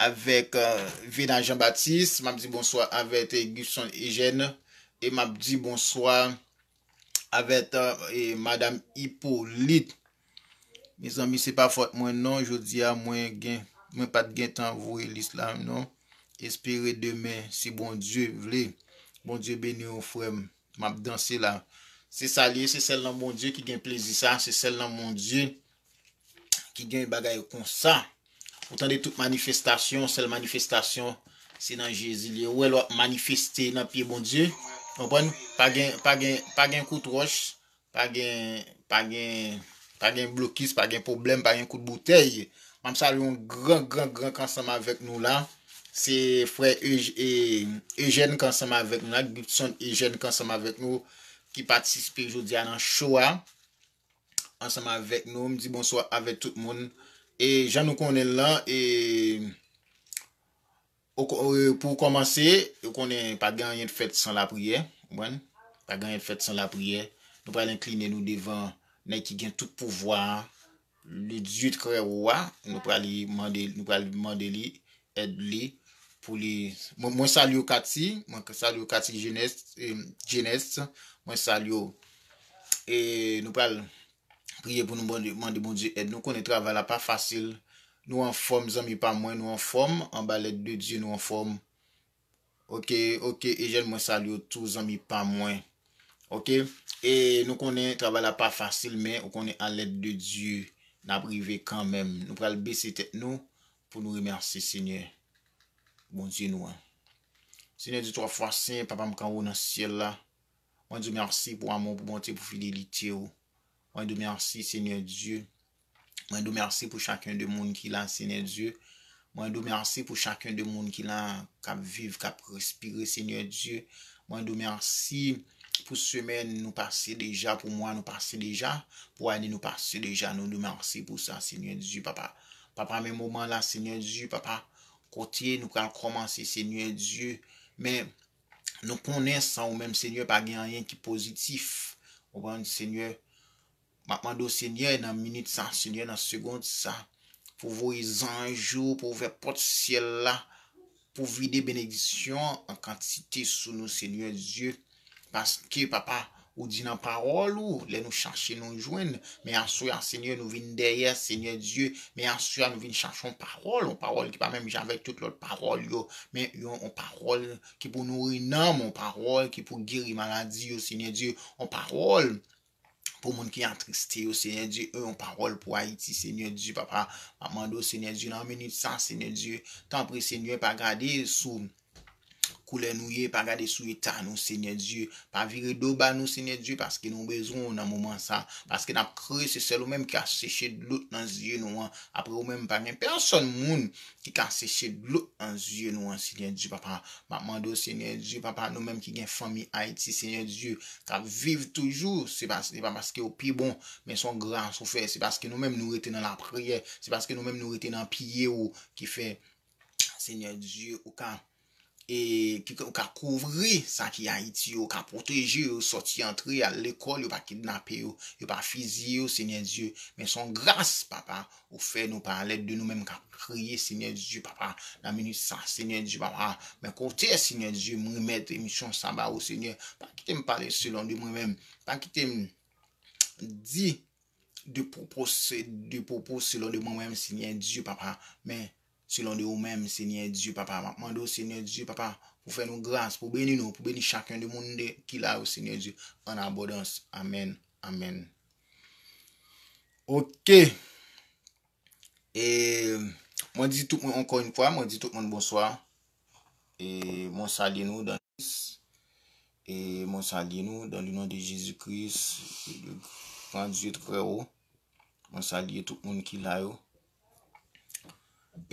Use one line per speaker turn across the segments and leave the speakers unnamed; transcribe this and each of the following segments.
avèk Vena Jean Baptiste, map di bonswa avèk Guston Eugène e map di bonswa avèk madam Hyppolite. Mezanmi se pa fòt mwen non jodi a mwen gen mwen pat gen tan voye lis la non. Espere demen si Bondye vle. Bondye beni ou frè m. Map danse la. Se sa li ye, se sèl nan Bondye ki gen plezi sa, se sèl nan Bondye ki gen bagay konsa ou tande tout manifestasyon sèl manifestasyon se nan jezi liye ou wè lè wap manifeste nan pye bondye konprann pa gen pa gen pa gen kout wòch pa gen pa gen pa gen blokis pa gen pwoblèm pa gen kout boutèy map salye yon gran gran gran ki ansanm avèk nou la se frè Ejèn ki ansanm avèk nou la Gibson Ejèn ki ansanm avèk nou ki patispe jodia nan cho a ansanm avèk nou, m di bonswa avèk tout moun e jan nou konnen l lan e pou kòmanse ou konnen pa gen anyen k fèt san lapriyè konprann, pa gen anyen k fèt san lapriyè nou pral enkline nou devan nèg ki gen tout pouvwa a le Dieu trè wo a nou pral mande li èd li pou li mwen salye w Cathy mwen salye w Cathy Genest mwen salye w e nou pral priye pou nou mande Bondye èd nou konnen travay la pa fasil nou anfòm zanmi pa mwen nou anfòm anba lèd de Dye nou anfòm Ok ok Eugène mwen salye w tou zanmi pa mwen ok e nou konnen travay la pa fasil men ou konnen a lèd de Dye nap rive kanmenm nou pral bese tèt nou pou nou remèsye Senyè Bondye nou an Senyè di 3 fwa sen papa m kanwo nan syèl la mwen di w mèsi pou amou pou bonte pou fidelite w mwen di w mèsi Senyè Dye. Mwen di w mèsi pou chakun de moun ki la Senyè Dye. Mwen di w mèsi pou chakun de moun ki la kap viv, kap respire Senyè Dye. Mwen di w mèsi pou semèn nou pase deja, pou mwa nou pase deja, pou ane nou pase deja. Nou di w mèsi pou sa Senyè Dye papa. Papa men moman la Senyè Dye papa kote nou pral kòmanse Senyè Dye. Men nou konnen san ou menm Senyè pa gen anyen ki pozitif. Ou konprann Senyè. M ap mande w Senyè nan minit sa Senyè nan segond sa pou voye zanj ou pou ouvè pòt syèl la pou vide benediksyon an kantite sou nou Senyè Dye paske papa ou di nan pawòl ou lè nou chache nou jwenn men aswè a Senyè nou vin dèyè Senyè Dye men aswè a nou vin chache yon pawòl yon pawòl ki pa menm jan avèk tout lòt pawòl yo men yon pawòl ki pou nouri nanm yon pawòl ki pou geri maladi yo Senyè Dye yon pawòl pou moun ki atriste yo Seigneur Dieu e yon pawòl pou Ayiti Seigneur Dieu papa map mande w Seigneur Dieu nan minit sa Seigneur Dieu tanpri Seigneur pa gade sou koulè nou ye pa gade sou eta nou Seigneur Dieu pa vire do ba nou Seigneur Dieu paske nou bezwen w nan moman sa paske nap kriye se sèl ou menm ki ka seche dlo nan zye nou an apre ou menm pa gen pèsòn moun ki ki ka seche dlo nan zye nou an senyè Dye papa map mande w senyè Dye papa nou menm ki gen fanmi ayiti senyè Dye kap viv toujou se pa se pa paske ou pi bon men son gras ou fè se paske nou menm nou rete nan lapriyè se paske nou menm nou rete nan pye ou ki fè senyè Dye ou ka e ki fè ou ka kouvri sa ki Ayiti yo, ou ka pwoteje yo sòti antre al lekòl, yo pa kidnape yo, yo pa fiziye yo Senyè Dye, men son gras papa ou fè nou pa alèd de nou menm kap kriye Senyè Dye papa nan minit sa Senyè Dye papa, men kote Senyè Dye m remèt emisyon sa ba ou Senyè, pa kite m pale selon de mwen menm, pa kite m di de pwopos de pwopo selon de mwen menm Senyè Dye papa, men. Selon
de ou menm Senyè Dye papa map mande ou Senyè Dye papa pou fè nou gras pou beni nou pou beni chakun de moun de ki la yo Senyè Dye an abondans amen amen ok e mwen di tout moun ankò yn fwa mwen di tout moun bonswa e mwen salye nou dan e mwen salye nou dan le non de Jezi Kris gran Dye trè o mwen salye tout moun ki la yo.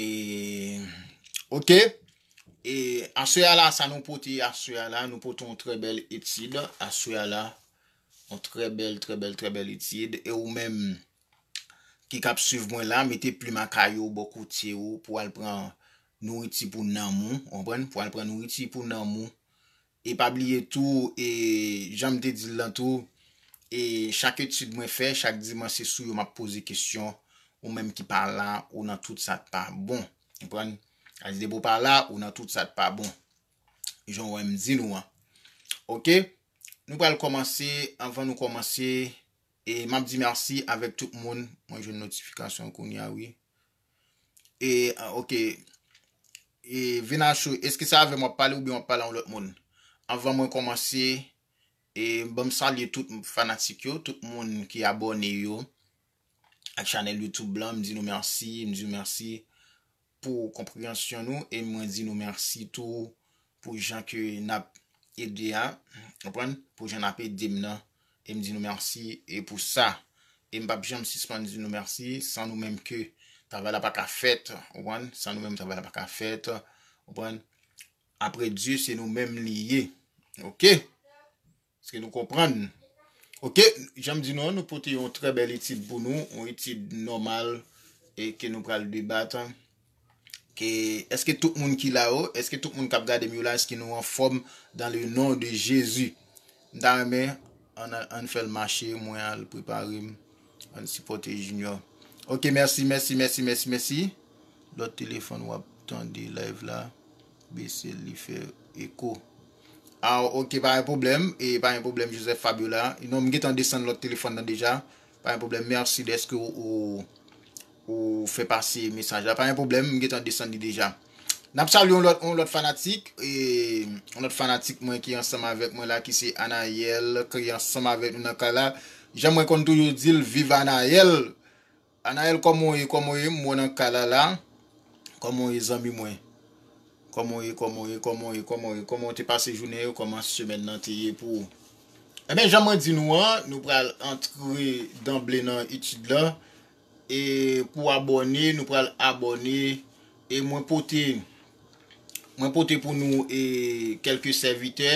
E ok E aswe a la sa nou pote aswe a la nou pote yon tre bel etid aswe a la yon tre bel tre bel tre bel etid e ou menm ki kap suiv mwen la mete plim akay ou bò kote ou pou al pran nouriti pou nanm ou pou al pran nouriti pou nanm ou E pa bliye tou e jan m te di l lan tou e chak etid mwen fè chak dimanch se sou yo m ap poze kesyon ou menm ki pa la ou nan tout sa k pa bon konprann sa di depi w pa la ou nan tout sa k pa bon jan w wè m di nou an ok nou pral kòmanse anvan nou kòmanse e m ap di mèsi avèk tout moun mwen jwenn notifikasyon kounya wi. E ok E Vinachou eske se avèm wap pale oubyen wap pale an lòt moun Anvan mwen kòmanse E banm salye tout fanatik yo Tout moun ki abòne yo Ak chanèl youtube lan m di nou mèsi M di nou mèsi Pou konpreyansyon nou E mwen di nou mèsi tou Pou jan ke nap ede a. Konprann? Pou jan nap edem nan. Em di nou merci e pou sa. Em pap janm sispann di nou merci. San nou menm ke travay la paka fèt. Konprann? San nou menm travay la paka fèt. Konprann? Apre Dye se nou menm li ye. Ok! Eske nou konprann? Ok, jan m di nou an, nou pote yon trè bèl etid pou nou, yon etid nòmal e ke nou pral debat an. Ke, eske tout moun ki la yo, eske tout moun k ap gade m yo la, eske nou anfòm dan le non de Jezi? M ta renmen, an al, an fè l mache, mwen al prepare m, an sipòte Junior. Ok, mèsi, mèsi, mèsi, mèsi, mèsi. Lòt telefòn w ap tande live la. Besel li fè eko. Aw ok pa gen pwoblèm e pa gen pwoblèm Joseph Fabiola non m gentan desann lòt telefòn nan deja pa gen pwoblèm merci deske ou fè pase mesaj la pa gen pwoblèm m gentan desann li deja nap salye yon lòt yon lòt fanatik yon lòt fanatik mwen ki ansanm avèk mwen la ki se Anayèl ki ansanm avèk nou nan kay la jan mwen konn toujou dil viv Anayèl Anaël kòman w ye kòman w ye m wè w nan kay la la kòman w ye zanmi mwen kòman w ye kòman w ye kòman w ye kòman w ye kòman w te pase jounen yo kòman semèn nan te ye pou ou enben jan mwen di nou an nou pral antre danble nan etid lan e pou abòne nou pral abòne E mwen pote, mwen pote pou nou e kèlke sèvitè,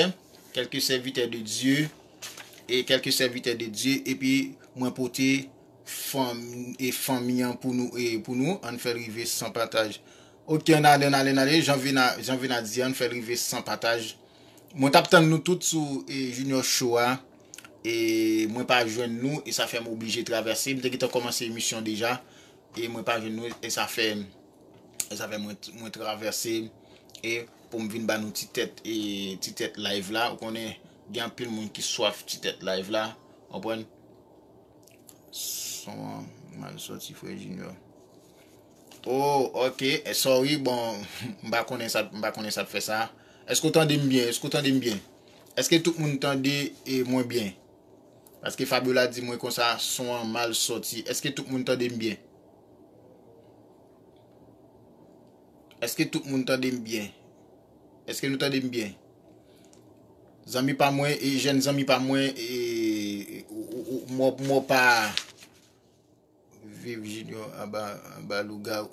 kèlke sèvitè de Dye, e kèlke sèvitè de Dye, epi mwen pote fanm, e fanmi an pou nou, e pou nou, ann fèl rive san pataj. Ok, ann ale, ann ale, ann ale, jan Vena, jan Vena di an, ann fèl rive san pataj. Mwen tap tann nou tout sou e Junior Show a, e mwen pa jwenn nou, e sa fèm oblije travèse, m te gentan kòmanse emisyon deja, e mwen pa jwenn nou e sa fè e sa fè mwen mwen travèse e poum vin ba nou ti tèt e ti tèt live la ou konnen gen anpil moun ki swaf ti tèt live la konprann son an mal soti frè junior Oh ok eh, sorry bon m pa konnen sa m pa konnen sa t fè sa Èske w tande m byen èske w tande m byen Èske tout moun tande e mwen byen Paske Fabiola di mwen konsa son an mal sòti eske tout moun tandem byen eske tout moun tandem byen eske nou tandem byen zanmi pa mwen e jèn zanmi pa mwen e mwen pa Viv junior anba lougawou.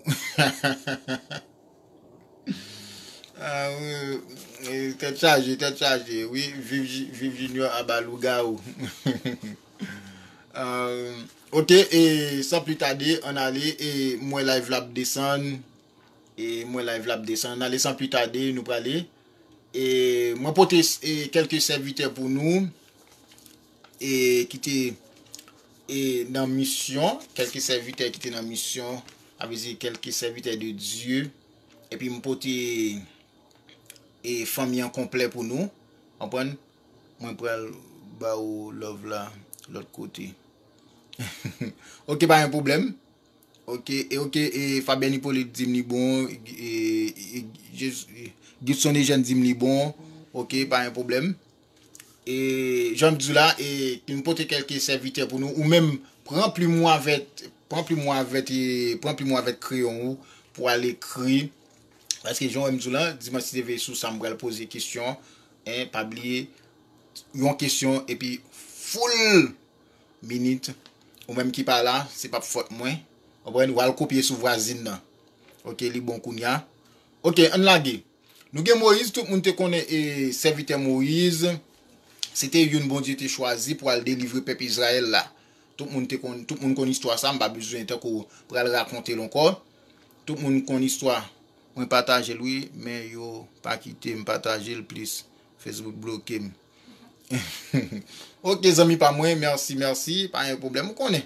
Tèt chaje tèt chaje wi viv junior anba lougawou. Ok e san pli tade an ale e mwen live la ap desann e mwen live la ap desann an ale san pli tade nou prale e mwen pote kelke sèvitè pou nou. e ki te e nan misyon kelke sèvitè ki te nan misyon a vle di kelke sèvitè de Dye epi m pote e fanmi an konplè pou nou konprann mwen pral ba ou love la lòt kote ok pa gen pwoblèm ok e ok e Fabian Hyppolite di m li bon e Gibson Eugène di m li bon ok pa gen pwoblèm. E jan m di w la, e m pote kelke sèvitè pou nou. Ou menm, pran plim ou avèk, pran plim ou avèk e pran plim ou avèk kreyon ou pou al ekri. Paske jan m di w la, Dimanch TV sou sa m pral poze kesyon. E pa bliye, yon kesyon epi full minit. Ou menm ki pa la, se pap fòt mwen. Konprann? Ou al kopye sou vwazin nan. Ok, li bon kounya. Ok, ann lage. Nou gen Moyiz, tout moun te konnen sèvitè Moyiz, se te youn Bondye te chwazi pou al delivre pèp Izrayèl la. Tout moun te konn, tout moun konn istwa sa, m pa bezwen tankou pral rakonte l ankò. Tout moun konn istwa. Mwen patajel wi men yo pa kitem patajel plis Facebook blokem ok zanmi pa mwen merci merci pa gen problem ou konnen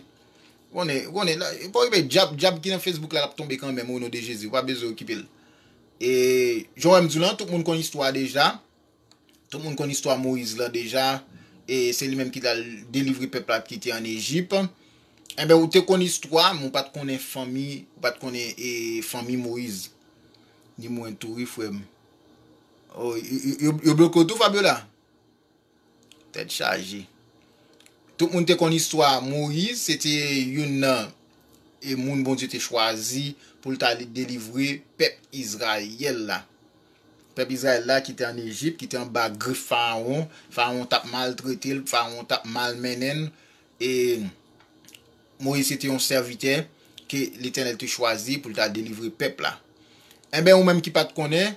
ou konnen ou konnen la ou pa okipe dyab dyab ki nan Facebook la lap tonbe kanmenm o non de Jezi ou pa bezwen okipel. E jan wè m di w lan, tout moun konn istwa a deja. Tout moun konn istwa Moyiz lan deja. E se li menm ki t al delivre pèp la ki te ann Ejip. Enben, ou te konn istwa, men ou pa t konnen fanmi, ou pa t konnen e fanmi Moyiz. Ni mwen tou wi frè m. Oh, yo bloke w tou Fabiola? Tèt chaje. Tout moun te konn istwa Moyiz, se te youn nan e moun Bondye te chwazi pou l ta li delivre pèp Izrayèl la. Pèp Izrayèl la ki te ann Ejip, ki te anba grif Farawon, Farawon t ap maltrete l, Farawon t ap malmennen l, e Moyiz se te yon sèvitè ke Letènèl te chwazi pou l ta delivre pèp la. Enben ou menm ki pa t konnen,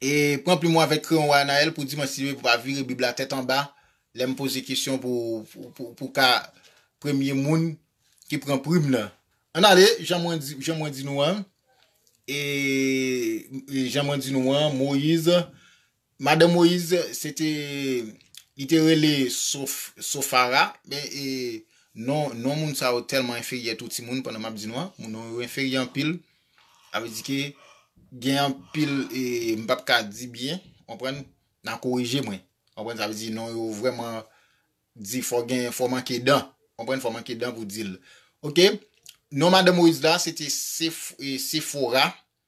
E pran plim ou avèk kreyon ou a Anaël pou di mwen si ou pa vire bib la tèt anba lè m poze kesyon pou ka premye moun ki pran prim nan. Ann ale, jan mwen di nou an, e jan mwen di nou an, Moïse Madan Moyiz se te li te rele Sofara men e non non moun sa yo tèlman enferyè tou timoun pandan map di nou an moun non yo enferyè anpil avè di ke gen anpil e m pap ka di byen konprann nan korije mwen konprann sa vle di non yo vrèman di fò gen fò manke dan konprann fò manke dan pou di l ok non madan Moyiz la se te Sefora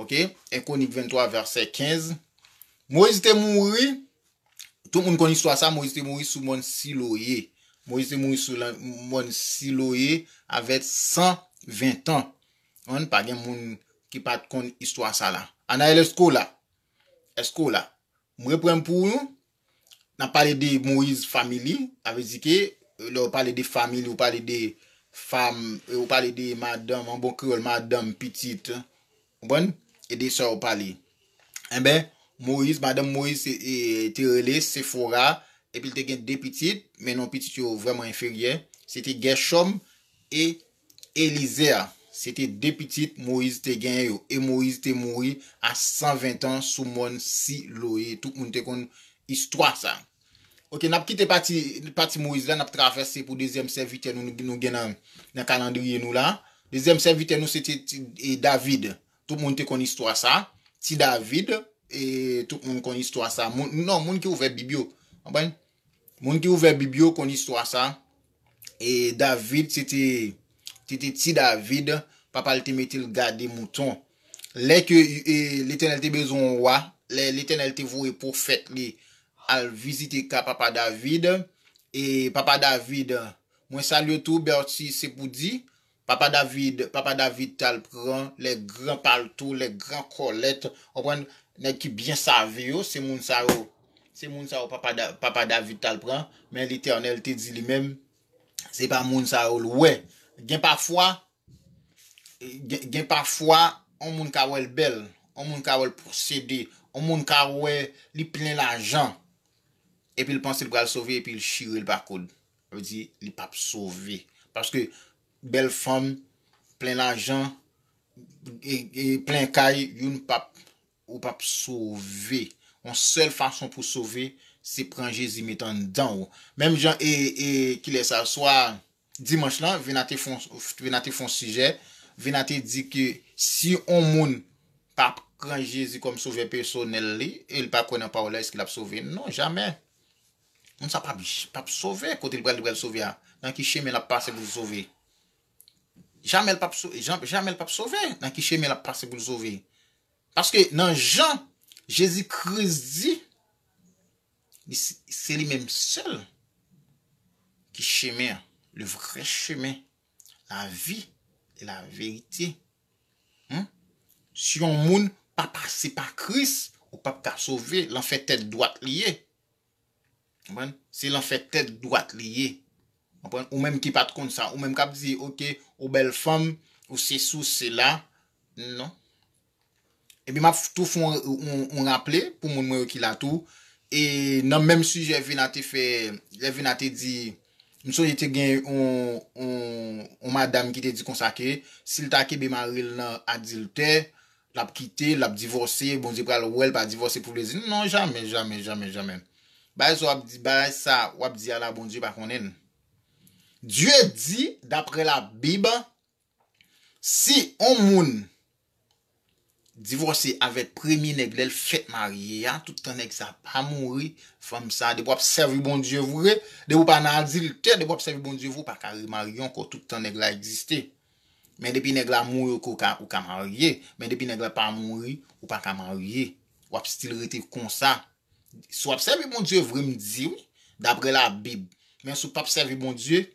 Ok, 1 Kwonik 23 vèsè 15 Moyiz te mouri, tout moun konn istwa sa, Moyiz te mouri sou mòn Siloye. Moyiz te mouri sou mòn Siloye avè 120 tan. An, pa gen moun ki pa t konn istwa sa la. Anael, èske w la? Èske w la? M reprann pou nou, Nap pale de Moise family, sa vle di ke lè ou pale de family ou pale de fam, ou pale de madanm, an bon kreyòl madanm, pitit, konprann? E de sa ou pale. Enben, Moise, madanm Moise te rele Sephora, epi l te gen 2 pitit, men non pitit yo vrèman enferyè, se te Guerschom e Elizer, se te de pitit Moyiz te genyen yo, e Moyiz te mouri a sanventan sou mòn Siloe. Tout moun te konn istwa sa. Ok, n ap kite pati pati Moyiz la, n ap travèse pou dezyèm sèvitè nou nou gen nan nan kalandriye nou la. Dezyèm sèvitè nou se te e David. Tout moun te konn istwa sa. Ti David, e tout moun konn istwa sa. Moun non, moun ki ouvè Bib yo. Konprann? Moun ki ouvè bib yo konn istwa sa e David se te te te ti David papa l te mete l gade mouton lè ke letènèl te bezwen yon wa lè letènèl te voye pwofèt li al vizite ka papa David e papa David mwen salye w tou Berthy se pou di Papa David papa David tal pran lè gran palto lè gran kòlèt konprann nèg ki byen save yo se moun sa yo se moun sa yo papa papa David tal pran men letènèl te di li menm se pa moun sa yo l wè gen pafwa gen pafwa on moun ka wèl bèl on moun ka wèl posede on moun ka wè li plen lajan epil panse l pral sove epil chire l pa koud. Sa vle di li pap sove. Paske bèl fanm, plen lajan, plen kay, youn pap, ou pap sove. Yon sèl fason pou sove, se pran Jezi met anndan ou. Menm jan e, e, kilè sa, swa dimanch lan, Vena te fon, Vena te fon sijè, Vena te di ke si yon moun pa pran Jezi kòm sovè pèsonèl li, e li pa kwè nan pawòl la, èske l ap sove? Non, jamè! Moun sa pap pap sove kote li pral li pral sove a nan ki chemen lap pase poul sove jamèl pap jamèl pap sove nan ki chemen lap pase poul sove paske nan jan jezi kris di se li menm sèl ki chemen an le vrè chemen la vi e la verite hum si yon moun pa pase pa kris ou pap ka sove lanfè tèt dwat li ye Konprann? Se lan fè tèt dwat li ye. Konprann? Ou menm ki pat konn sa. Ou menm kap di ok ou bèl fanm, ou sesi ou sela. Non. Epi map tou fè yon raple pou moun mwen yo ki la tou. E nan menm sijè Vina te fè, lè Vina te di, m sonje te gen yon madam ki te di konsa ke sil ta kenbe maril nan adiltè. Lap kite, lap divòse, Bondye pral wèl pa divòse pou plezi nou non jamè jamè jamè jamè bagay sa wap di bagay sa wap di a la Bondye pa konnenl Dye di daprè la bib si on moun divòse avèk premye nèg lèl fèt marye a tout tan nèg sa pa mouri fanm sa depi wap sèvi Bondye vre depi ou pa nan adiltè depi wap sèvi Bondye vre ou paka remarye ankò tout tan nèg la egziste. Men depi nèg la mouri ok ou ka ou ka marye men depi nèg la pa mouri ou paka marye wap stil rete konsa si wap sèvi Bondye vre m di wi daprè la bib men si w pap sèvi Bondye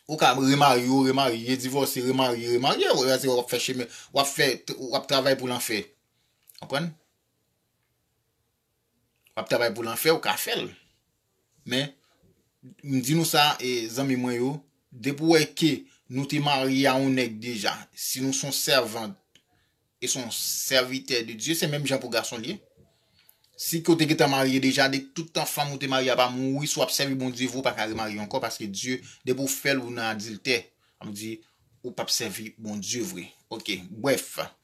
ou ka remarye w remarye divòse remarye w remarye w se wap fè chemen wap fè wap travay pou lanfè konprann. Wap travay pou lanfè ou ka fèl men m di nou sa zanmi mwen yo depi ou wè ke nou te marye a yon nèg deja si nou son sèvant e son sèvitè de Dye se menm jan pou gason l ye si ke ou te gentan marye deja de tout tan fanm ou te marye a pa mouri si wap sèvi Bondye vre ou pa ka remarye ankò paske Dye depi ou fèl ou nan adiltè sa vle di ou pap sèvi Bondye vre ok brèf.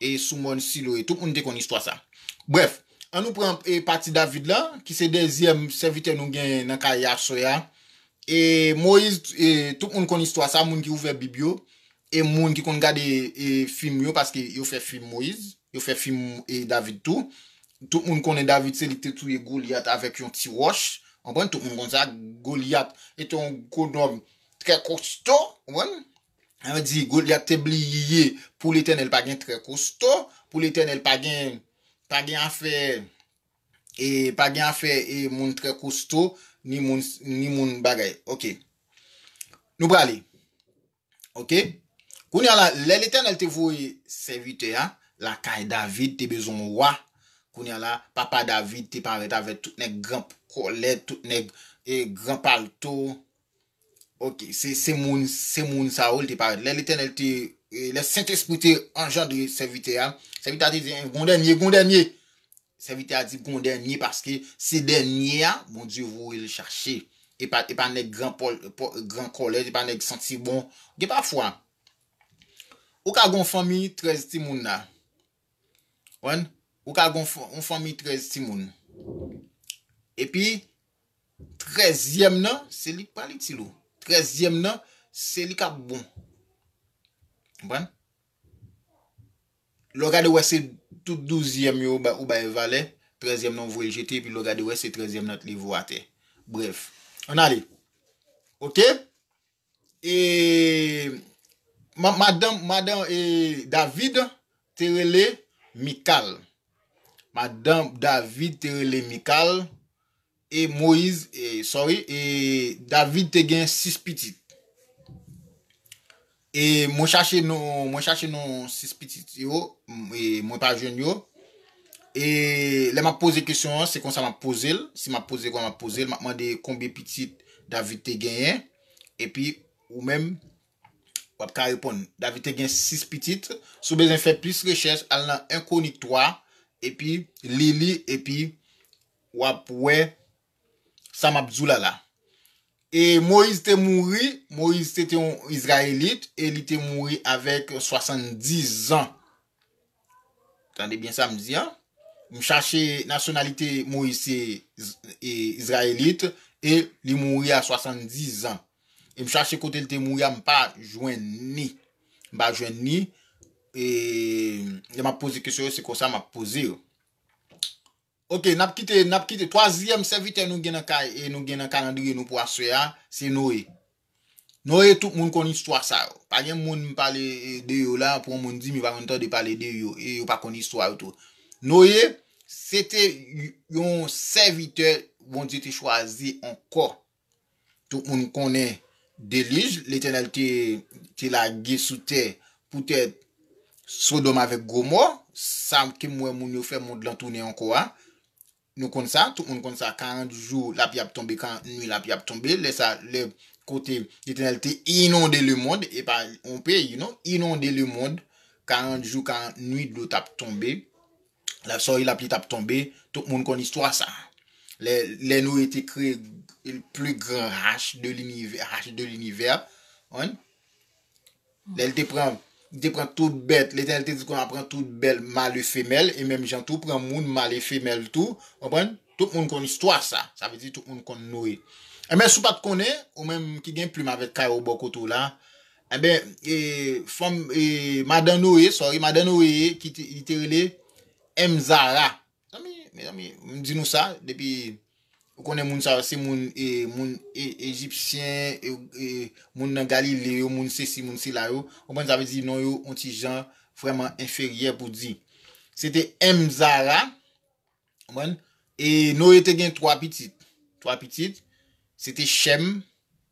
E sou mòn Silo e. Tout moun te konn istwa sa. Brèf, annou pran pati David la, ki se dezyèm sèvitè nou genyen nan ka Yahswè a. E Moyiz, tout moun konn istwa sa, moun ki ouvè Bib yo, e moun ki konn gade fim yo, paske yo fè fim Moyiz, yo fè fim David tou. Tout moun konnen David se li ki te touye Golyat avèk yon ti wòch. Anpwen, tout moun konn sa. Golyat e te yon gwo nonm trè kosto. Anpwen? an di, Golyat te bliye pou Letènèl pa gen trè kosto, pou Letènèl pa gen, pa gen afè e, pa gen afè e moun trè kosto, ni moun, ni moun bagay. Ok. Nou prale. Ok. Kounye a la, lè Letènèl te voye sèvitè a lakay David, te bezwen yon wa, kounye a la, papa David te parèt avèk tout nèg gran kòlèt, tout nèg e gran palto, Ok, se moun, se moun sa yo li te parèt. Lè Letènèl te, lè Sentespri te anjandre sèvitè a, sèvitè a te di, gon dènye, gon dènye. Sèvitè a di gon dènye paske se dènye a Bondye voye l chache. E pa, e pa nèg gran pòl, gran kòlèt, e pa nèg santi bon. Gen pa fwa, ou ka gon fanmi 13 ti moun la. Ou ka gon fanmi 13 ti moun. E pi, Trèzyèm nan, se li k pral itil ou. Trèzyèm nan, se li k ap bon. Konprann? Lè w gade wè se tout douzyèm yo ou bay valè, trèzyèm nan ou voye l jete epi lè w gade wè se trèzyèm nan t leve ou atè. Brèf, ann ale. Ok? E madanm madan e David te rele Mikal. Madanm David te rele Mikal. E Moyiz, e sorry, e David te gen 6 pitit. E mwen chache non, mwen chache non 6 pitit yo, e mwen pa jwenn yo. E lè m ap poze kesyon an, se konsa m ap poze l. Si m ap poze kòman m ap poze l, m ap mande konbyen pitit David te genyen. Epi ou menm, w ap ka reponn. David te gen 6 pitit. Si w bezwen fè plis rechèch, al nan 1 Kwonik 3, epi li li, epi w ap wè sa m ap di w la la. E Moyiz te mouri, Moyiz se te yon Izrayelit, e li te mouri avèk 70 zan. Tande byen sa m di an. M chache nasyonalite Moïse se Izrayelit e li mouri a 70 zan. E m chache kote li te mouri a m pa jwenn ni. M pa jwenn ni. E lè m ap poze kesyon yo se konsa m ap poze yo. Ok nap kite nap kite twazyèm sèvitè nou gen nan kay e nou gen nan kalandriye nou pou aswè a se Noe Noe tout moun konn istwa sa yo pa gen moun m pale de yo la pou yon moun di m yo pa konn tande pale de yo e yo pa konn istwa yo tou Noe se te yon sèvitè Bondye te chwazi ankò Tout moun konnen delij Letènèl te lage sou tè poutèt Sodòm avèk Gomò, sa ke m wè moun yo fè mond lan tounen ankò a. Nou konn sa, tout moun konn sa, 40 jou lapli ap tonbe, 40 nwi lapli ap tonbe, lè sa, lè kote Letènèl te inonde lemond, e pa yon peyi non, inonde lemond, 40 jou, 40 nwi dlo t ap tonbe. Lap sòri lap li tap tonbe tout moun konn istwa sa lè lè Noé te kreye pli gran hache de linivè hache de linivè an lè li te pran li te pran tout bèt letènèl te di konn ap pran tout bèl mal e femèl e menm jan tou pran moun mal e femèl tou konprann tout moun konn istwa sa sa vle di tout moun konn Noé enben si w pat konnen ou menm ki gen plim avèk kay ou bò kote w la. Enben e fanm e madan Noe sorry madan Noe ye ki te, li te rele M. Zara. Mezanmi, mezanmi, m di nou sa depi ou konnen moun sa yo se moun e moun e ejipsyen e e moun nan Galile yo, moun sesi, moun sela yo. Konprann sa vle di non yo on ti jan vrèman enferyè pou di. Se te M. Zara, konprann? E Noe te gen 3 pitit. 3 pitit, se te Chèm,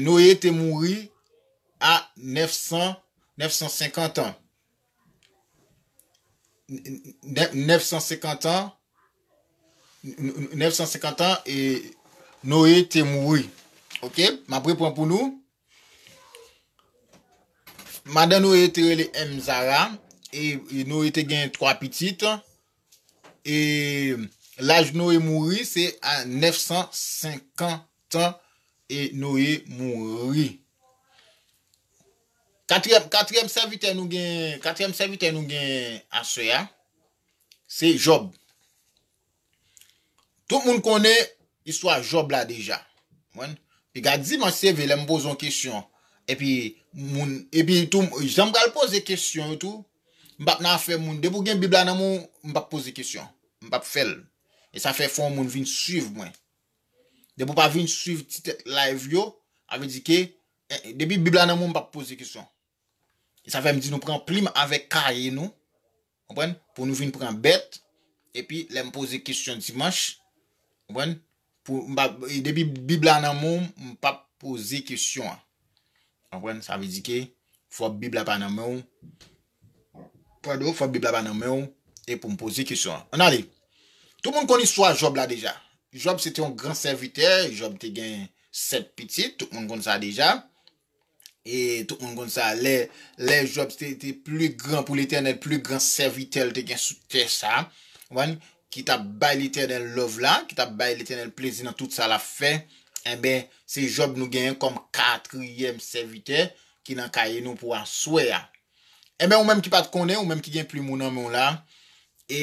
Noye te mouri a 950 an. 950 an, 950 an, e Noye te mouri. Ok, m ap repran pou nou. Madan Noye te rele M. Zara, e Noye te gen 3 pitit. E laj Noye mouri se a 950 an e Noye mouri. Katriyèm sèvitè nou gen aswè a, se Job. Tout moun konnen istwa Job la deja. Pi gad di man seve lèm poze yon kesyon. E pi tou, janm pral poze kesyon tou, M pap nan afè moun. Depi w gen bib la nan men w m pap poze kesyon. M pap fè l. E sa fè fò yon moun vin swiv mwen. Depi w pa vin swiv ti tèt live yo, sa vle di ke depi bib la nan men w m pap poze kesyon. E sa fè m di nou pran plim avèk kaye nou, konprann, pou nou vin pran bèt, epi lè m poze kesyon dimanch, konprann, Depi bib la nan menw m pap poze kesyon an. Konprann sa vle di ke fò bib la pa nan menw pardon fò bib la pa nan menw e poum poze kesyon an. Ann ale tout moun konn istwa Jòb la deja. Jòb se te yon gran sèvitè, Jòb te gen 7 pitit tout moun konn sa deja E tout moun konn sa, lè, lè Jòb te, te pli gran pou Letènèl, pli gran sèvitè l te gen sou tè sa a, konprann, ki t ap bay Letènèl love la, ki t ap bay Letènèl plezi nan tout sa l ap fè, enben, se Jòb nou genyen kòm katriyèm sèvitè ki nan kaye nou pou aswè a. Enben, ou menm ki pa t konnen, ou menm ki gen plim ou nan men w la, e.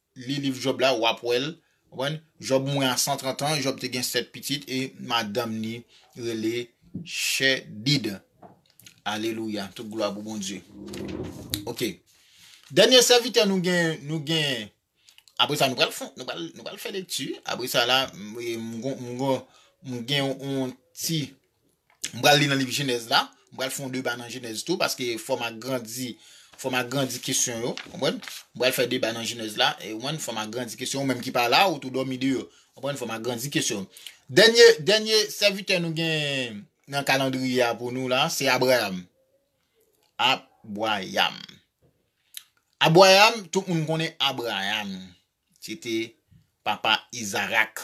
Li liv Jòb la, w ap wè l. Ou konprann? Jòb mouri a 130 an, Jòb te gen sèt pitit e madanm li rele Chedid. Alelouya! Tout glwa pou Bondye. Ok. Dènye sèvitè nou gen, nou gen, apre sa nou pral fon, nou pral, nou pral fè lekti. Apre sa la, m gen yon ti, M pral li nan liv jenèz la, m pral fè yon deba nan jenèz tou paske fòm agrandi fòm agrandi kesyon yo konprann m pral fè deba nan jenèz la e ou konprann fòm agrandi kesyon ou menm ki pa la ou tou dòmi deyò konprann fòm agrandi kesyon dènye dènye sèvitè nou gen nan kalandriye a pou nou la se Abrayam Abwayam Abwayam tout moun konnen Abrayam se te papa Izarak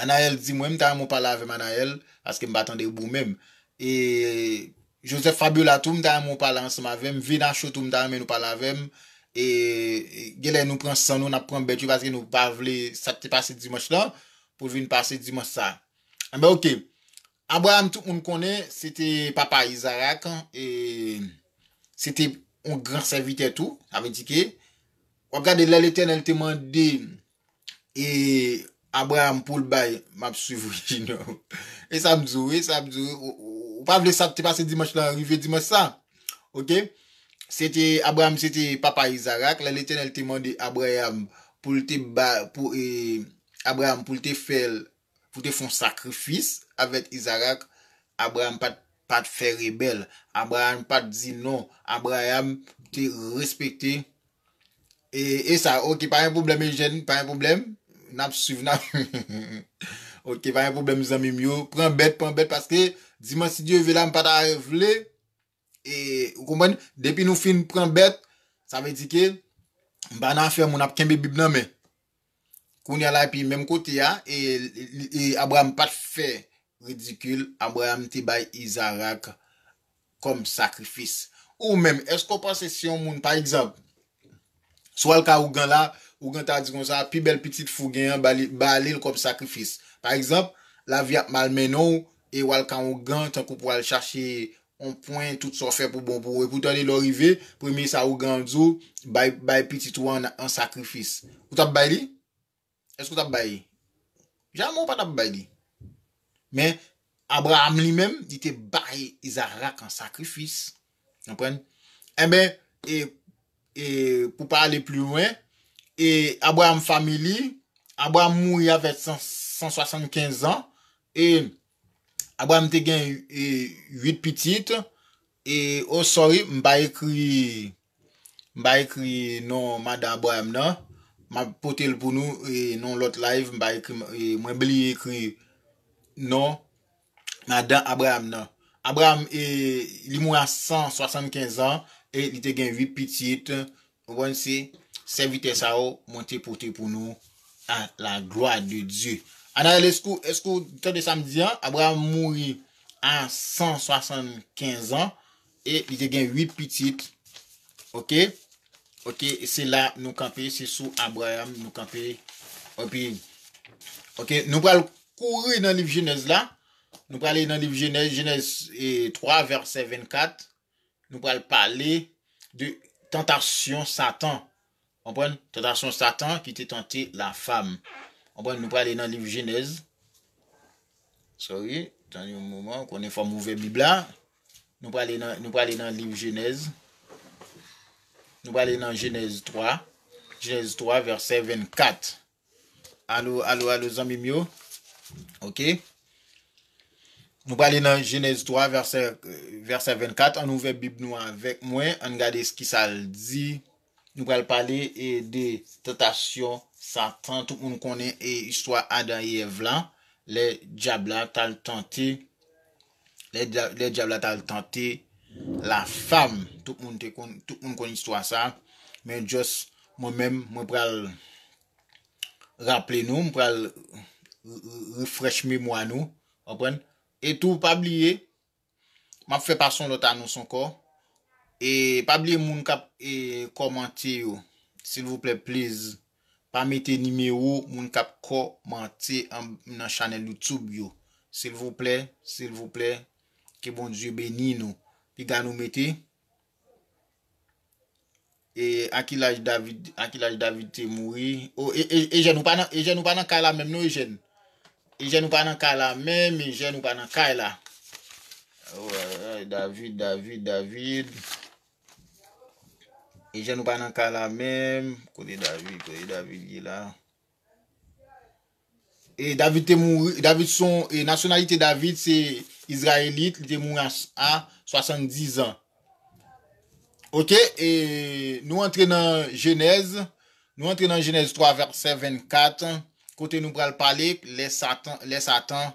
Anaël di mwen m ta renmen w pale avèm Anaël paske m pa tande bou menm e Joseph Fabiola tou m ta renmen w pale ansanm avèm Venacho tou m ta renmen nou pale avèm e genlè nou pran san nou nap pran bèt yo paske nou pa vle sak te pase dimanch lan pou vin pase dimanch sa anben ok Abraham tout moun konnen se te papa Isaac e se te yon gran sèvitè tou sa vle di ke wap gade lè Letènèl te mande E Abraham poul bay map swiv wi Junior. E sa m di w wi, sa m di w wi, ou pa vle sa k te pase dimanch lan rive dimanch sa. Ok, se te Abraham se te papa Izarak, lè Letènèl te mande Abraham pou l te ba pou e Abraham pou l te fè l pou te fon sakrifis avèk Izarak, Abraham pat pat fè rebèl, Abraham pat di non, Abraham te respekte e e sa ok pa gen pwoblèm Eugène pa gen pwoblèm nap swiv nap ok pa gen pwoblèm zanmim yo pran bèt pran bèt paske dimanch si Dieu veut la m pata vle E ou konprann? Depi nou fin pran bèt, sa vle di ke m pa nan afè moun ap kenbe bib nan men. Kounya la epi menm kote a, e Abraham pa t fè ridikil, Abraham te bay Izarak kòm sakrifis. Ou menm, èske ou panse si yon moun, pa egzanp, Si w al ka ougan la, ougan ta di konsa, pi bèl pitit fou gen an, ba li l kòm sakrifis. Pa egzanp, lavi ap mal mennen w e w al ka ougan tankou pou w al chache yon pwen tout sa w fè pou bon pou ou. Epoutande lè w rive, premye sa ougan an di w, bay pitit ou an an sakrifis. Ou t ap bay li? Èske w t ap bay? Jamè w pa t ap bay li. Men, Abraram li menm, li te bay Izarak an sakrifis. Konprann? Enben, e, e, pou pa ale pli lwen, e Abraram fanmi li, Abraram mouri avè san, san swasannkenz an, e Abraram te gen uit pitit, E oh sorry m pa ekri m pa ekri non madan Abraham nan map potel pou nou non lòt live m pa ekri mwen bliye ekri non madan Abraham nan Abraham li mouri a 175 ans e li te gen 8 pitit Ou konn se sèvitè sa yo mwen te pote pou nou a la glwa de Dye. Anael eskew eskew tande sa m di an, Abraham mouri a 175 an e li te gen 8 pitit ok ok se la nou kanpe se sou Abraham nou kanpe epi ok nou pral kouri nan liv jenèz la nou prale nan liv jenèz jenèz 3 vèsè 24 Nou pral pale de tantasyon satan. Konprann? Tantasyon satan ki te tante la fam. Konprann? Nou prale nan liv jenèz. Sorry. Tann yon moman. Ou konnen fòm ouvè bib la. Nou prale nan, nou prale nan liv jenèz. Nou prale nan jenèz 3. Jenèz 3 vèsè 24. Alo alo alo zanmim yo ok Nou prale nan jenèz 3 vèsè vèsè 24 ann ouvè bib nou avèk mwen ann gade kisal di Nou pral pale e de tantasyon satan tout moun konnen e istwa adan e èv la lè dyab la tal tante lè dyab la tal tante la fam tout moun te konn tout moun konn istwa sa men just mwen menm mwen pral raple nou mwen pral refresh memwa nou anprenn e tou pa bliye map fè pa son lòt anons ankò e pa bliye moun kap e kòmante yo silvouplè please Pa mete nimewo moun kap kò mante an nan chanel you tube yo silvouplè silvouplè ke bondye beni nou piga nou mete e a ki laj david a ki laj david te mouri o e e ejèn ou pa nan ejèn ou pa nan kay la menm non ejèn ejèn ou pa nan kay la menm ejèn ou pa nan kay la david david david Eugène ou pa nan kay la menm. Kote David, kote David ye la. E David te mouri, David son, e nasyonalite David se Izrayelit, li te mouri a 70 an. Ok, e nou antre nan Genèse, nou antre nan Genèse 3 verset 24, kote nou pral pale, lè Satan, lè Satan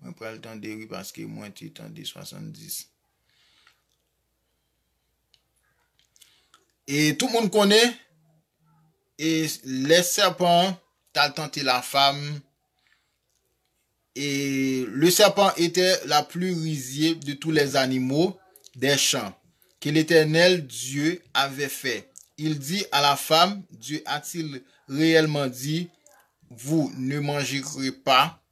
Mwen pral tande wi paske mwen te tande 70. E tout moun konnen e lè sèpan tal tante la fam e le sèpan etè la pli rizye de tou lè zanimo dè chan ke letènèl Dye avè fè il di a la fam Dye atil reyèlman di vou ne manjere pa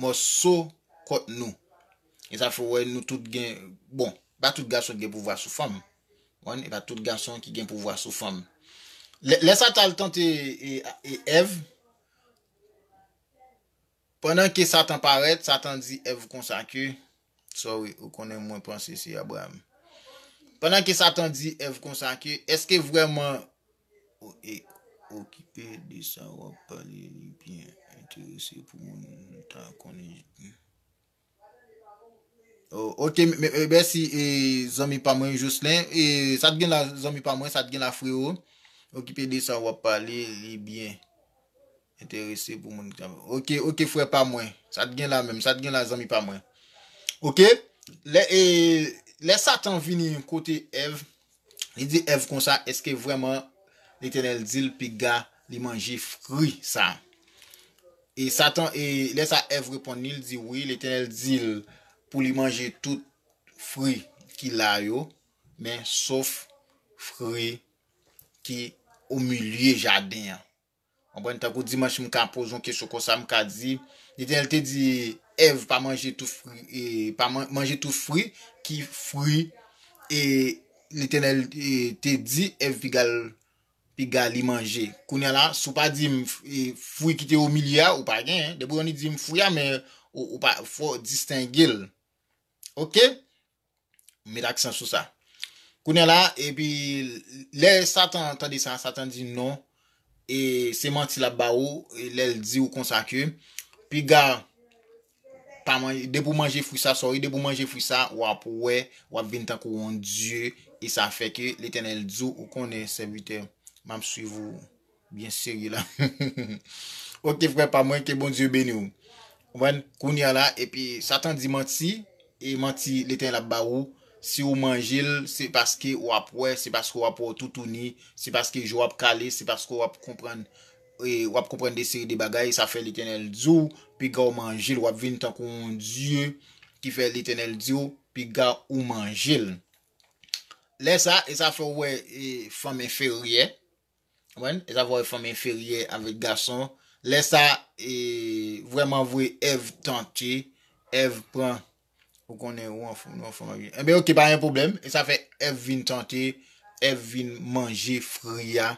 mòso kòt nou e sa fè wè nou tout gen bon e pa tout gason ki gen pouvwa sou fanm e pa tout gason ki gen pouvwa sou fanm lè satan al tante Èv pandan ke satan parèt satan di Èv konsa ke sorry ou konnen mwen panse se Abraham pandan ke satan di Èv konsa ke eske vreman Okipe de sa wap pale li byen enterese pou moun ta konnen jan. Ok mèsi zanmi pa mwen Jocelin. Sa t gen la zanmi pa mwen, sa t gen la freo. Okipe de sa wap pale li byen enterese pou moun ta konnen. Ok ok frè pa mwen, sa t gen la menm, sa t gen la zanmi pa mwen. Ok lè satan vini kote Èv Li di Èv konsa, Èske vrèman Letènèl di l piga li manje fri sa a? E Satan, e lè sa Èv reponn li, li di, Wi, Letènèl di l pou li manje tout fri ki la yo, men sof fri ki omilye jaden an. Konprann? Tankou dimanch m ka poze yon kesyon konsa m ka di, Letènèl te di Èv pa manje tout fri e, pa manje tout fri ki fri e Letènèl te di Èv pigal piga li manje. Kounye a la, si w pa di m fri ki te omilye a, ou pa gen, depi w di m fri a men ou pa fò distenge l. Ok? M met aksan sou sa. Kounye a la, epi, lè Satan tande sa, Satan di non, e se manti l ap ba ou, lè l di ou konsa ke, piga, pa manje, depi ou manje fwi sa, sorry, depi ou manje fwi sa, w ap wè, w ap vin tankou yon dye, e sa fè ke Letènèl di ou, ou konnen, sèvitè, m ap swiv ou. Byen serye la Ok frè pa mwen ke Bondye beni w Konprann kounya la epi satan di manti e manti letènèl ap ba ou si ou manje l se paske ou ap wè se paske ou ap wè ou toutouni se paske je w ap kale se paske ou ap konprann ou ap konprann de seri de bagay sa fè letènèl di w piga ou manje l w ap vin tankou yon dye ki fè letènèl di w piga ou manje l lè sa e sa fè ou wè fanm enferyè Konprann? E sa fè fanm enferyè avèk gason. Lè sa vrèman vre Èv tante, Èv pran ou konnen ou yon fanm avèk yon. Enben ok pa gen pwoblèm. E sa fè Èv vin tante, Èv vin manje fri a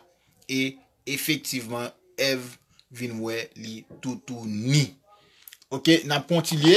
e efektivman Èv vin wè li toutouni. Ok, n ap kontinye.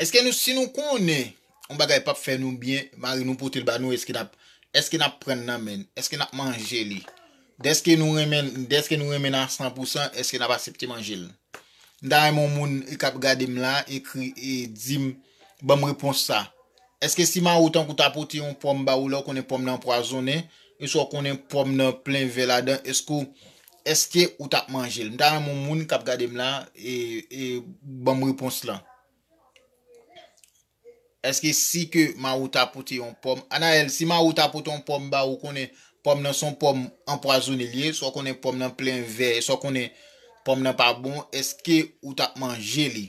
Eske nou si nou konnen yon bagay pap fè nou byen mari nou potel ba nou eske nap eske nap prann nan menn eske nap manje li deske nou renmenn deske nou renmenn a san pou san eske nap asepte manjel m ta renmen yon moun kap gadem la ekri e dim banm repons sa eske si mariw tankou ta pote yon pòm ba ou lè ou konnen pòm nan anpwazonnen eswa ou konnen pòm nan plen vè ladan eske ou Eske ou tap manjel. M ta renmen yon moun kap gadem la e banm repons lan. Eske si ke Mawou ta pote yon pòm. Anaël si Mawou ta pote yon pòm ba ou konnen pòm nan son pòm anpwazone li ye. Eswa konnen pòm nan plen vè. Eswa konnen pòm nan pa bon. Eske ou tap manje li.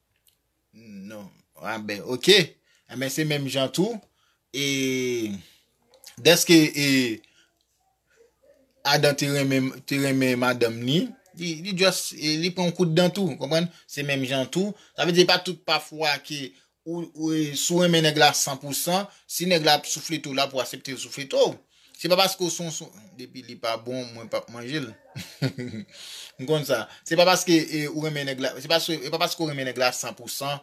Non anben ok anben se menm jan tou e deske e Adan te renmen te renmen madanm li li just li pran yon kout dan tou konprann se menm jan tou sa vle di se pa tout pa fwa ke ou si w renmen nèg la san pou san si nèg la ap souflete w la pou w asepte l souflete w Se pa paske w son son. Depi li pa bon mwen pap manje l. M konn sa. Se pa paske ou renmen nèg la. Se pa paske ou renmen nèg la san pou san.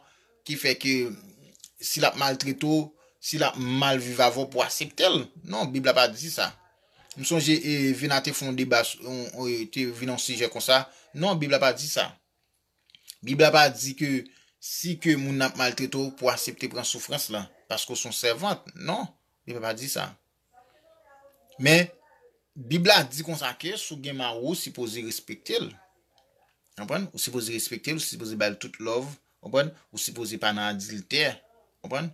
Ki fè ke si l ap maltrete w. Si l ap mal viv avè w pou w asepte l. Non bib la pa di sa. M sonje Vina te fon deba. Te vin yon sijè konsa. Non bib la pa di sa. Bib la pa di ke si ke moun nan ap maltrete w pou asepte pran soufrans lan paske w se yon sèvant. Non, Bib la pa di sa. Men, Bib la di konsa ke si w gen mari w, ou sipoze respekte l. Konprann? Ou sipoze respekte l, ou sipoze ba l tout love. Konprann? Ou sipoze pa nan adiltè. Konprann?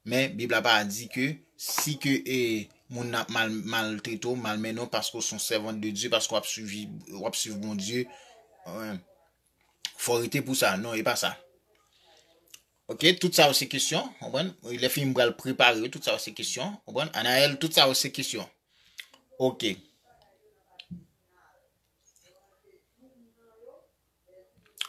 Men bib la pa di ke si ke moun nan ap mal maltrete w, malmennen w paske w se yon sèvant de Dye, paske wap swivi wap swiv Bondye fò w rete pou sa, non e pa sa. Ok tout sa yo se kesyon, konprann, lè fini m pral prepare yo, tout sa yo se kesyon, konprann, Anaël tout sa yo se kesyon. Ok.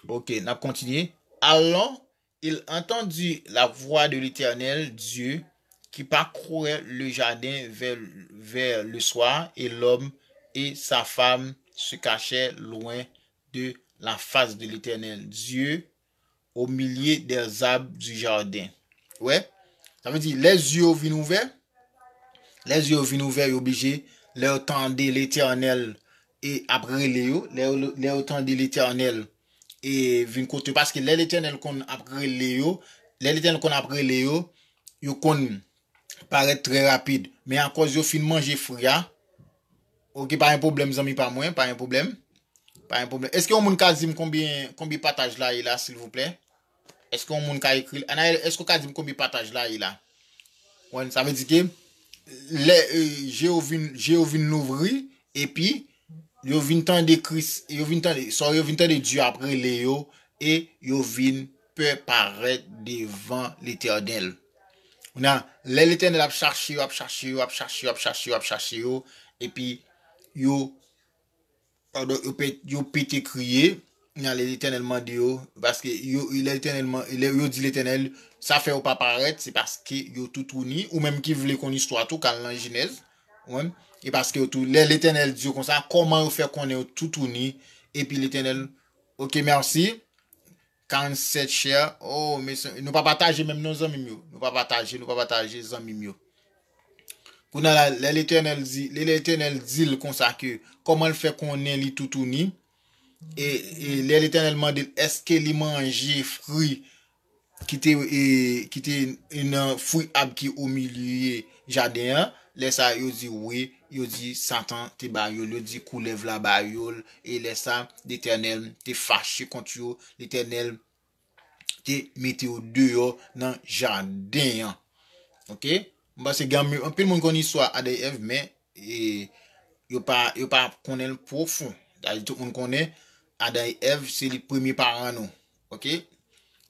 Ok, nap kontinye. Alon, Il entendit la voix de l'Eternel Dieu qui parcourait le jardin vers le soir, et l'homme et sa femme se cachèrent loin de la face de l'Eternel Dieu au milieu des arbres du jardin. Ou wè? Sa vle di, lè zye yo vin ouvè, lè zye yo vin ouvè, yo blije, lè yo tande Letènèl e ap rele yo, lè yo tande Letènèl e vin kot yo, paske lè Letènèl konn ap rele yo, lè Letènèl konn ap rele yo, yo konn parèt trè rapid, men akòz yo fin manje fri a, ok pa gen pwoblèm zanmi pa mwen, pa gen pwoblèm, pa gen pwoblèm, eske yon moun ka di m konbyen, konbyen pataj la ye la silvouplè? Eske yon moun ka ekril. Anaëlle eske ou ka dim konbyen pataj la ye la? Wen sa vle di ke lè je yo vin je yo vin louvri epi yo vin tande kris yo vin tande sa yo vin tande Dye ap rele yo e yo vin pè parèt devan Letènèl. Kounye a lè Letènèl ap chache yo ap chache yo ap chache yo ap chache yo ap chache yo epi yo Pardon yo pete kriye Nan lè letènèl mande yo Paske yo di letènèl Sa fèw pa parèt se paske yo toutouni Ou menm ki vle konn istwa tou kal nan jenèz E paske yo tou lè letènèl di yo konsa Koman yo fè konnen yo toutouni Epi letènèl ok merci 47 cher oh mesye nou pa pataje menm non zanmim yo nou pa pataje nou pa pataje zanmim yo kounye la lè letènèl di lè letènèl dil konsa ke kòmanl fè konnen li toutouni e lè letènèl mandel eske li manje fri ki te e ki te nan fri ab ki omilye jaden an lè sa yo di wi Yo di, Satan te ba yo l, yo di, Koulèv la ba yo l. E lè sa a, Letènèl te fache kont yo, Letènèl te mete yo deyò nan jaden an. Ok? M panse gen anmi, anpil moun konn istwa Adan e Èv, men, e, yo pa, yo pa konnen l pwofon. Sa vle di tout moun konnen Adan e Èv se li premye paran nou. Ok?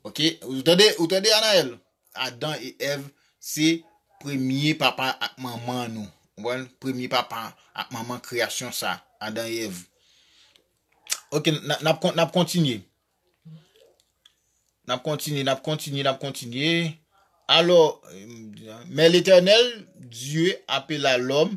Ok? Ou tande, ou tande, Anaëlle? Adan e Èv se premye papa ak manman nou. Konprann? Premye papa ak manman kreyasyon sa, Adan e Èv. Ok, n ap kontinye. N ap kontinye, n ap kontinye, n ap kontinye. Alò, men Letènèl, Dye apela lòm.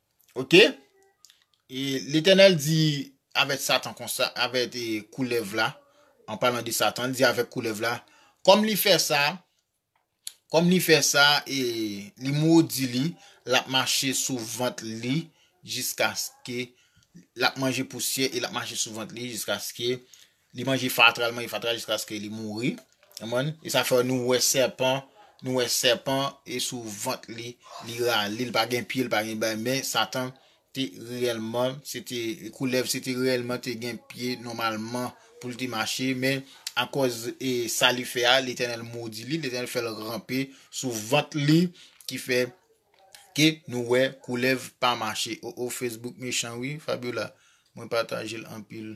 Ok e letènèl di avèk satan konsa avèk e koulèv la an palan de satan li di avèk koulèv la kòm li fè sa kòm li fè sa e li modi li lap mache sou vant li jiskaske lap manje pousyè e lap mache sou vant li jiskaske Li manje fatra, li manje fatra jiskaske li mouri. Konprann? E sa fè nou wè sèpan, nou wè sèpan e sou vant li, li rale, li pa gen pye, li pa gen bay, men Satan te reyèlman, se te koulèv, se te reyèlman te gen pye nòmalman pou l te mache, men akòz e sa li fè a, Letènèl modi li, Letènèl fè l ranpe sou vant li, ki fè ke nou wè koulèv pa mache. O o Facebook mechan wi Fabiola, mwen pataje l anpil.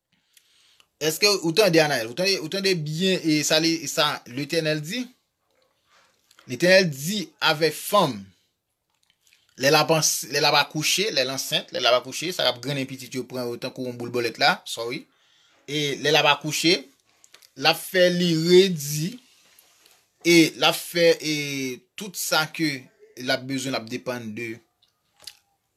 Eske ou tande Anael? Ou tande byen e sa li sa l'Eternel di? L'Eternel di avè fanm lè la pa lè la pa kouche, lè l'ansent, lè la pa kouche, sa k'ap grennen pitit yo pran yo tankou yon boul bolèt la, sorry, e lè la pa kouche, la fè li redi e la fè e tout sa ke l'ap bezwen l'ap depann de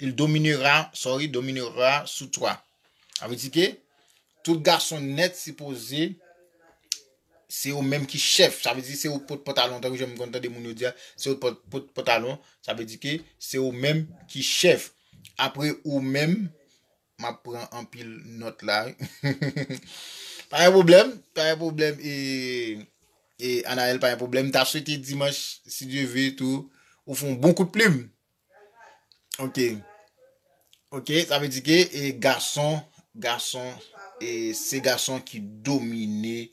Il dominera, sorry, dominera sur toi. Sa vle di ke tout gason nèt sipoze se yo menm ki chèf. Sa vle di se yo pot pantalon tankou jan m konn tande moun yo di a, se yo pot pantalon, sa vle di ke se yo menm ki chèf. Apre ou menm, m ap pran anpil nòt la wi. Pa gen pwoblèm, pa gen pwoblèm e e Anaël pa gen pwoblèm. M ta swete dimanch si Dieu veut tou ou fon bon kout plim. Ok. Ok, sa vle di ke e gason, gason e se gason ki domine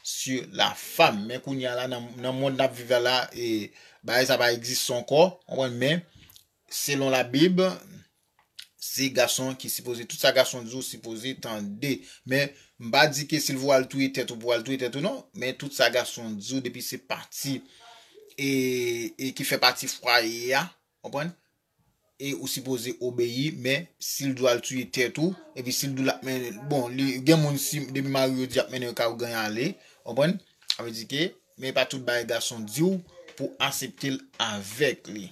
sur la femme. Men kounye a la nan mond nap viv la la e bagay sa pa egziste ankò. Ou konprann men selon la bib. Se gason ki sipoze tout sa gason di ou sipoze tande men m pa di ke si l vwe al touye tèt ou pou al touye tèt ou non men tout sa gason di ou depi se pati e ki fè pati fwaye a konprann e ou sipoze obeyi men si l di w al touye tèt ou epi si l di w l ap mennen bon li gen moun si depi mari yo di ap mennen yo kay ou genyen ale konprann sa vle di ke men pa tout bagay gason di ou pou asepte l avèk li.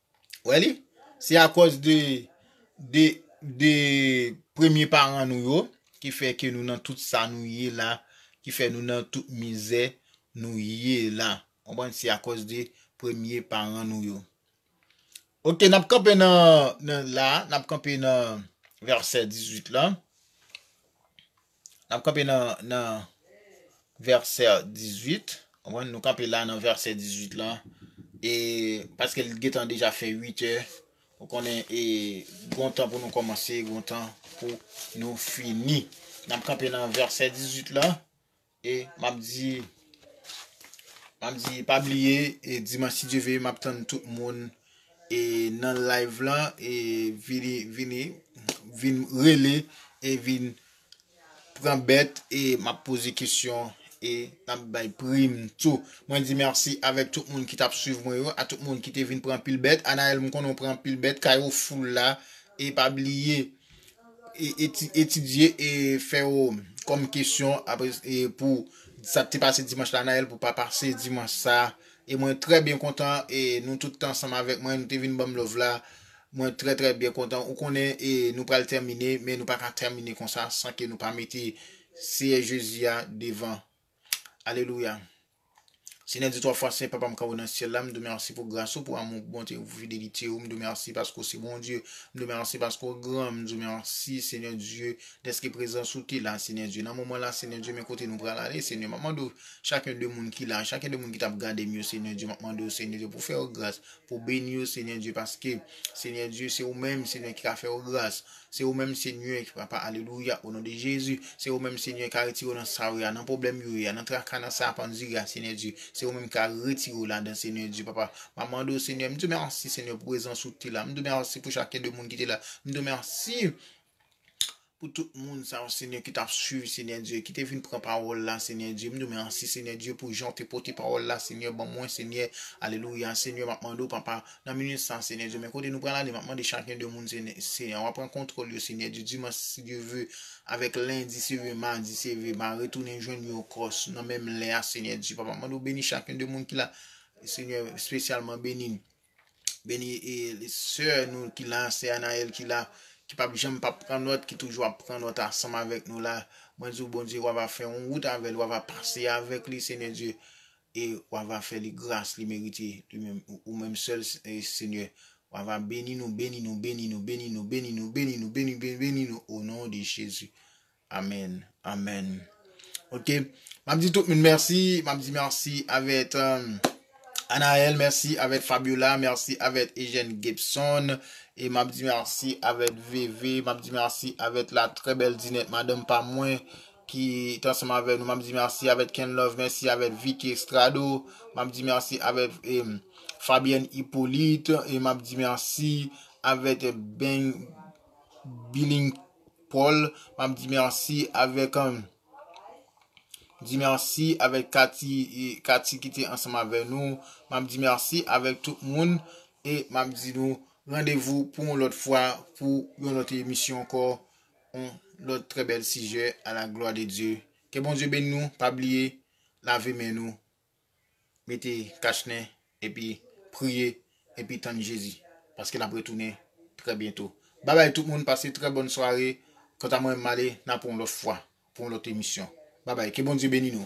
Wè li? Se akòz de, de, de premye paran nou yo, ki fè ke nou nan tout sa nou ye la, ki fè nou nan tout mizè nou ye la. Konprann? Se akòz de premye paran nou yo. Ok, n ap kanpe nan, nan la, n ap kanpe nan vèsè 18 lan. N ap kanpe nan vèsè 18. Konprann? Nou kanpe la nan vèsè 18 lan. E paske l gentan deja fè 8 è. Ou konnen e gon tan pou nou kòmanse, gon tan pou nou fini. N ap kanpe nan vèsè 18 la. E m ap di, m ap di pa bliye e dimanch si Dye vle m ap tann tout moun. E nan live la e vini vini vin rele e vin pran bèt e map poze kesyon e map bay prim tou. Mwen di merci avèk tout moun ki tap swiv mwen yo, a tout moun ki te vin pran pil bèt. Anaël m konnen ou pran pil bèt, kay ou foul la e pa bliye e etidye e fè yo kòm kesyon apre e pou sa te pase dimanche la Anaël pou pa pase dimanche sa E mwen trè byen kontan e nou tout te ansanm avèk mwen nou te vin banm love la mwen trè trè byen kontan ou konnen e nou pral tèmine men nou paka tèmine konsa san ke nou pa mete Seyè Jezi a devan Alelouya Senyè Dye twa fwa sen papa m kap nan syèl la m di w mèsi pou gras ou pou amou pou bonte pou fidelite ou m di w mèsi paske ou se Bondye m di w mèsi paske ou gran m di w mèsi Senyè Dye dèske prezans ou te la Senyè Dye nan moman la Senyè Dye men kote nou pral ale Senyè map mande w Chacun de moun ki la, chacun de moun ki tap gadem yo Seigneur Dieu map mande w Seigneur Dieu pou fè yo gras, pou beni yo Seigneur Dieu paske Seigneur Dieu se ou menm Seigneur ki ka fè yo gras, se ou menm Seigneur papa alelouya o non de Jezu, se ou menm Seigneur ka retire yo nan sa yo ye a nan problèm yo ye a nan traka nan sa a ap andire a Seigneur Dieu se ou menm ka retire yo ladan Seigneur Dieu papa map mande w Seigneur m diw merci Seigneur pou prezans ou ki te la m diw merci pou chacun de moun ki te la m diw merci Pou tout moun sa yo Senyè ki tap swiv Senyè Dye ki te vin pran pawòl la Senyè Dye m diw mèsi Senyè Dye pou jan ou te pote pawòl la Senyè ban mwen Senyè Alelouya Senyè map mande w papa nan minit sa Senyè Dye men kote nou pral ale map mande chak yon de moun Senyè wa pran kontwòl yo Senyè Dye dimanch si Dye ve avèk lendi se ve madi se ve ma retounen jwenn yo ankò nan menm lè a Senyè Dye papa mande w beni chak yon de moun ki la Senyè spesyalman beni Beni e sè nou ki la, sè Anaëlle ki la, ki pap janm pap pran nòt, ki toujou ap pran nòt ansanm avèk nou la. Mwen di ou Bondye wa va fè yon wout avèl, wa va pase avèk li Senyè Dye e wa va fè li gras li merite li menm ou menm sèl Senyè. Wa va beni nou, beni nou, beni nou, beni nou, beni nou, beni nou, beni nou, beni nou o non de Jezi. Amen amen ok map di tout moun merci map di merci avèt Anaël merci avèt Fabiola merci avèt Eugène Gibson e map di merci avèt Veve map di merci avèt la très belle Dinette madanm pa mwen ki t ansanm avèk nou map di merci avèt Kenlove merci avèt Vicky Estrado map di merci avèt Fabienne Hyppolite e map di merci avèt Bing Biling Paul map di merci avek di merci avek Kati Kati ki te ansanm avek nou map di merci avek tout moun e map di nou randevou pou yon lot fwa pou yon lot emisyon anko yon lot tre bel sije a la glwa de Dye ke Bondye beni nou pa bliye lave men nou mete kach nen epi priye epi tann Jezi paske nap retounen trè byento bye bye tout moun pase trè bòn sware kanta mwen male nan pou yon lòt fwa pou yon lòt emisyon bye bye ke Bondye beni nou.